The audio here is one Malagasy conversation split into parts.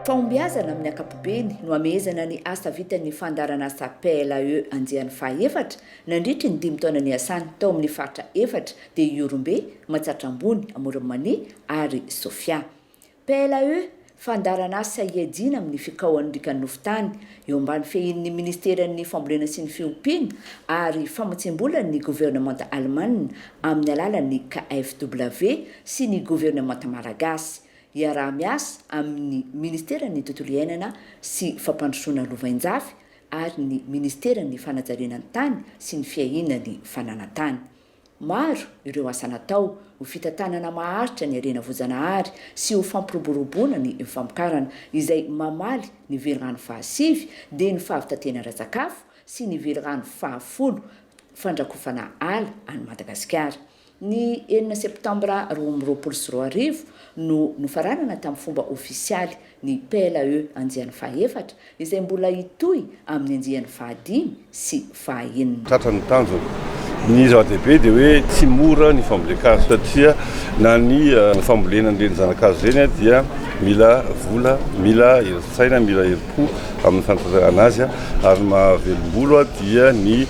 Fahombiazana amin'ny ankapobeny no amehezana ny asa vitan'ny fandaharanasa PLAE andiany faha efatra Nandritry ny dimy taona niasany tao amin'ny faritra efatra dia Ihorombe, Matsatra Ambony, Amoron'i Mania ary Sofia. PLAE, Fandaharan'asa ihajiana amin'ny fikaohan'ny rikanofo tany, eo ambany fehin'ny Ministeran'ny Fambolena sy ny Fiompiana ary Famatsiam-bola ny governemanta alemana amin'ny alalan'ny KfW sy ny governemanta malagasy, iaraha-miasa amin'ny Ministeran'ny Tontolo iainana sy Fampandrosoana Lovainjafy, ary ny Ministeran'ny Fanajariana ny Tany sy ny Fiahiana ny Fananan-tany. Maro ireo asa natao ho fitantanana maharitra ny harena voajanahary sy ho fampiroboroboana ny famokarana, izay mamaly ny velirano fahasivy dia ny fahavitatena ara-tsakafo sy ny velirano fahafolo fandrakofana ala any Madagasikara. Ny enina Septambra roa amby roapolo sy roa arivo no nofaranana tamin'ny fomba ofisialy ny PLAE andiany fahaefatra, izay mbola hitohy amin'ny andiany fahadimy sy fahaenina. Tratra ny tanjona. Ny zava-dehibe dia hoe tsy mora ny fambolen-kazo satria na ny fambolena an'ireny zana-kazo ireny dia mila vola, mila herin-tsaina, mila herim-po. tokoa amin'ny fanatanterahana azy ary ny mahavelombolo dia ny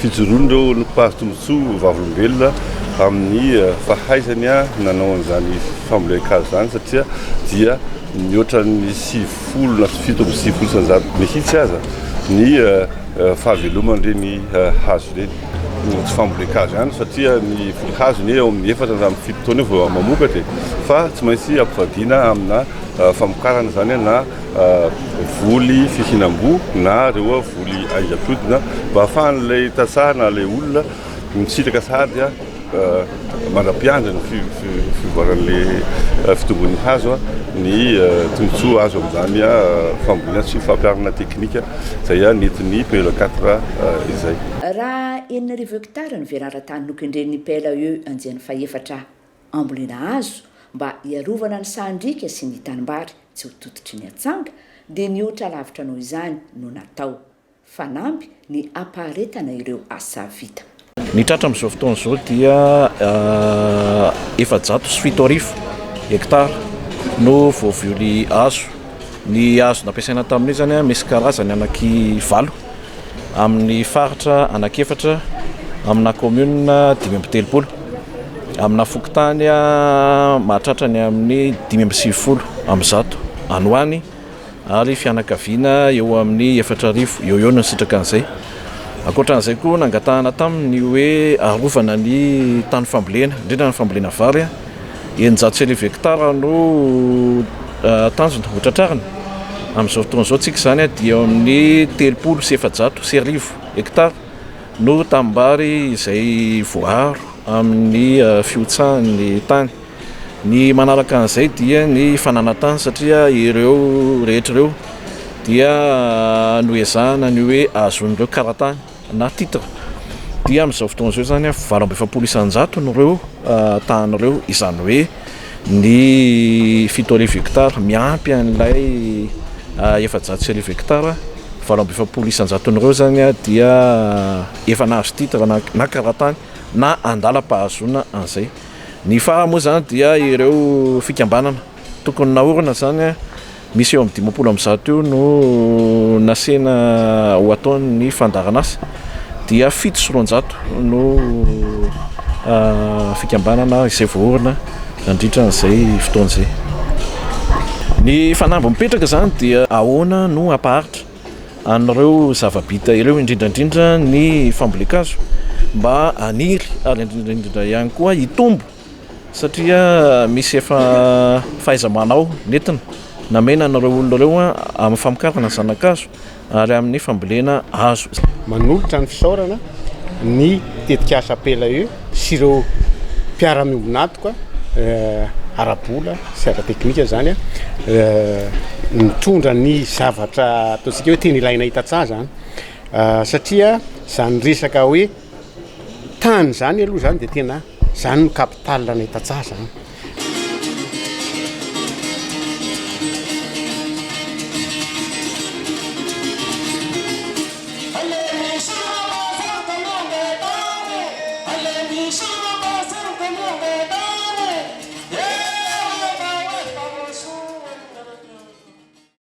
fijoroan'ireo mpahazo tombontsoa vavolombelona amin'ny fahaizany nanao an'izany fambolen-kazo izany satria dia mihoatran'ny sivifolo na fito amby sivifolo isan-jato mihitsy aza ny fahaveloman'ireny hazo ireny tsy fambolen-kazo ihany satria ny voly hazo ny eo amin'ny efatra na amin'ny fito taona eo vao mamokatra e fa tsy maintsy ampivadiana amina famokarana izany na voly fihinam-boa na ireo voly aingam-piodina mba hahafahan'ilay tantsaha na ilay olona misitraka sahady mandra-piandry ny fivoaran'ilay fitomboan'ny hazo ny tombontsoa azo amin'izany fambolena sy fampiharana teknika izay nentin'ny PLE quatre izay. Raha enina arivo hekitara no verara tany nokendren'ny PLE andiany fahefatra. ambolena hazo mba hiarovana ny sahan-driaka sy ny tanimbary tsy ho tototry ny atsanga dia nihoatra lavitra noho izany no natao. Fanamby ny hampaharetana ireo asa vita. Ny tratra amin'izao fotoana izao dia efajato sy fito arivo hectares no voavioly hazo. Ny hazo nampiasaina tamin'izany misy karazany anaky valo. amin'ny faritra anankiefatra amina kaominina dimy amby telopolo, amina fokontany mahatratra ny amin'ny dimy amby sivifolo amin'ny zato any ho any ary fianakaviana eo amin'ny efatra arivo eo eo no nisitraka an'izay. Ankoatra an'izay koa nangatahana taminy ny hoe arovana ny tany fambolena, indrindra ny fambolena vary. Eninjato sy arivo hektara no tanjona hotratrarina. Amin'izao fotoana izao tsika izany dia eo amin'ny telopolo sy efajato sy arivo hektara no tanimbary izay voaaro amin'ny fihotsahan'ny tany. Ny manaraka an'izay dia ny fananantany satria ireo rehetra ireo dia noezahana ny hoe ahazoan'ireo karatany. na titre, dia amin'izao fotoana izao izany an, valo amby efapolo isan-jato no ireo tany ireo, izany hoe ny fito arivo hectares miampy an'ilay efajato sy arivo hectares, valo amby efapolo isan-jaton'ireo izany an dia efa nahazo titre na na kara-tany na andalam-pahazoana an'izay, ny faha moa izany dia ireo fikambanana tokony naorina izany an. Misy eo amin'ny dimampolo amby zato eo no nasehina ho ataon'ny fandaharanasa, dia fito sy roanjato no fikambanana izay voaorina nandritra an'izay fotoana izay. Ny fanamby mipetraka izany dia ahoana no hampaharitra an'ireo zava-bita ireo, indrindra indrindra ny fambolen-kazo mba haniry ary indrindra indrindra ihany koa hitombo satria misy efa fahaiza-manao nentina namena an'ireo olona ireo amin'ny famokarana zana-kazo ary amin'ny fambolena hazo. Manolotra ny fisaorana ny tetikasa APELAE sy ireo mpiara-miombon'antoka ara-bola sy ara-teknika izany nitondra ny zavatra ataontsika hoe tena ilainay tantsaha izany satria izany resaka hoe tany izany aloha izany dia tena Zany no capital anay tantsaha zany.